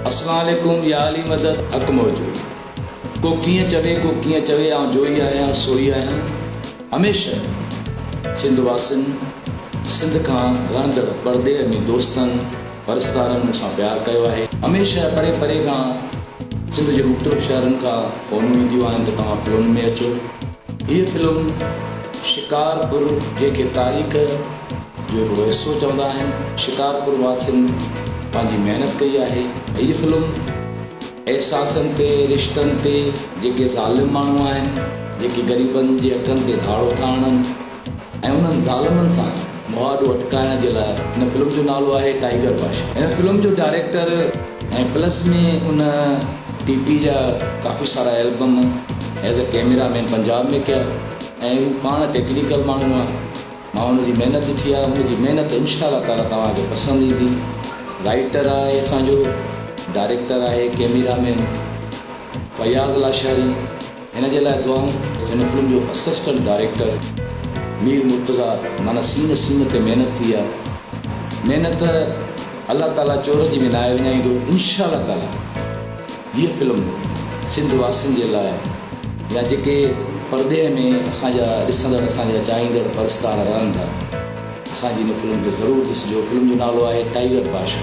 اسلام عليڪم يا علي مدد حق موجود ڪو ڪيئن چوي ڪو ڪيئن چوي آئون جوئي آهيان سوئي آهيان هميشه سنڌ واسين سنڌ کان رهندڙ پرڏيهه ۾ دوستن پرستارن مون سان پيار ڪيو آهي هميشه پري پري کان سنڌ جي مختلف شهرن کان فونون اينديون آهن ته توهان فلم ۾ اچو هيء فلم شڪارپور جنهن کي تاريخ جو هڪ حصو چوندا آهن شڪارپور واسين پنهنجي محنت ڪئي آهي هيء فلم احساسن تي رشتن تي جيڪي ظالم ماڻهو آهن جيڪي غريبن جي حقن تي ڌاڙو ٿا هڻن ۽ انهن ظالمن سان مهاڏو اٽڪائڻ جي لاء هن فلم جو نالو آهي ٽائيگر بادشاهه هن فلم جو ڊائريڪٽر ۽ پلس ۾ ان ٽي پي جا ڪافي سارا البم ايز ا ڪيميرا مين پنجاب ۾ ڪيا ۽ هو پاڻ ٽيڪنيڪل ماڻهو آ. مان ان جي محنت ڏٺي آهي ان جي محنت انشاء الله تعالي توهان کي پسند ايندي رائيٽر آهي اسان جو ڊائريڪٽر آهي ڪيميرا مين فياض لاشاري هن جي لاء دعائون هن فلم جو اسسٽنٽ ڊائريڪٽر مير مرتضا معنيٰ سين سين تي محنت ٿي آهي محنت الله تعالي چور جي به ناهي وڃائيندو انشاء الله تعالي هيء فلم سنڌ واسين جي لاء يا جيڪي پردي ۾ اسان جا ڏسندڙ اسان جا چاهيندڙ پرستار رهن ٿا اسان جي هن فلم کي ضرور ڏسجو فلم جو نالو آهي ٽائيگر باشا.